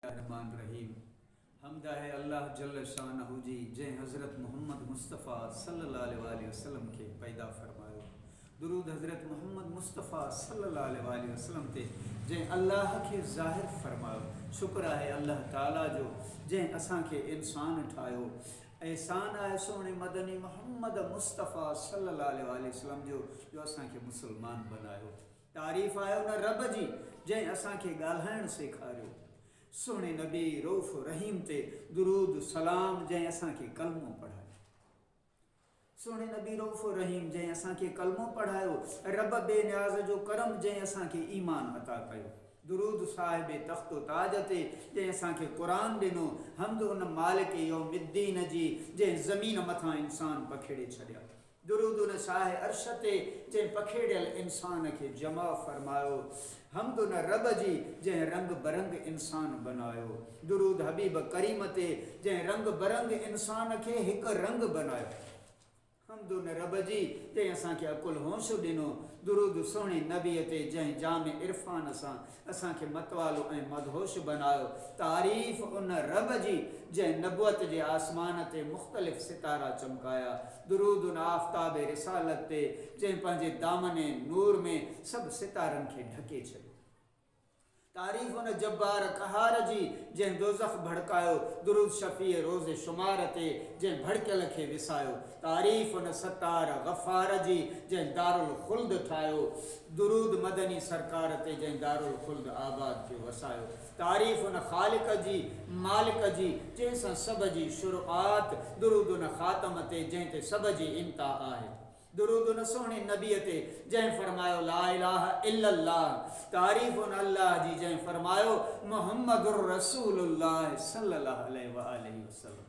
رحمان رحيم حمد آهي الله جل شانه جي جنهن حضرت محمد مصطفيٰ صلي الله عليه واٰله وسلم کي پيدا فرمايو درود حضرت محمد مصطفيٰ صلي الله عليه واٰله وسلم تي جنهن الله کي ظاهر فرمايو شڪر آهي الله تعالي جو جنهن اسان کي انسان ٺاهيو احسان آهي سهڻي مدني محمد مصطفيٰ صلي الله عليه واٰله وسلم جو جو اسان کي مسلمان بنايو تعريف آهي ان رب جي جنهن اسان کي ڳالهائڻ سيکاريو. سهڻي نبي رئوف رحيم تي درود سلام جنهن اسان کي ڪلمو پڙهايو. سهڻي نبي رئوف رحيم جنهن اسان کي ڪلمو پڙهايو. رب بي نياز جو ڪرم جنهن اسان کي ايمان عطا ڪيو. درود صاحب تخت و تاج تي جنهن اسان کي قرآن ڏنو. حمد ان مالڪ يوم الدين جي جنهن زمين مٿان انسان پکيڙي ڇڏيا. درود ان شاهه عرش تي جنهن پکيڙيل انسان کي جمع فرمايو. حمد ان رب جي جنهن رنگ برنگ انسان بنايو. درود حبيب ڪريم تي جنهن رنگ برنگ انسان کي هڪ رنگ بنايو. حمد ان رب جي جنهن اسان کي عقل هوش ڏنو. درود سهڻي نبي تي جنهن جام عرفان سان اسان کي متوالو ۽ مدهوش بنايو. تعريف ان رب جي جنهن نبوت جي آسمان تي مختلف ستارا چمڪايا. درود ان آفتاب رسالت تي جنهن پنهنجي دامن نور ۾ سڀ ستارن کي ڍڪي ڇڏيو. تعريف ان جبار قهار جي جنهن دوزخ ڀڙڪايو. درود شفيع روز شمار تي جنهن ڀڙڪيل کي وسايو. تعريف ان ستار غفار جي جنهن دارالخلد ٺاهيو، درود مدني سرڪار تي جنهن دارالخلد آباد ٿيو وسايو، تعريف ان خالق جي مالڪ جي جنهن سان سڀ جي شرؤات، درود ان خاتم تي جنهن تي سڀ جي انتها آهي، درود ان سهڻي نبي تي جنهن فرمايو لا اله الا الله. تعريفون الله جي جنهن فرمايو محمد الرسول الله صلي الله عليه واٰله وسلم.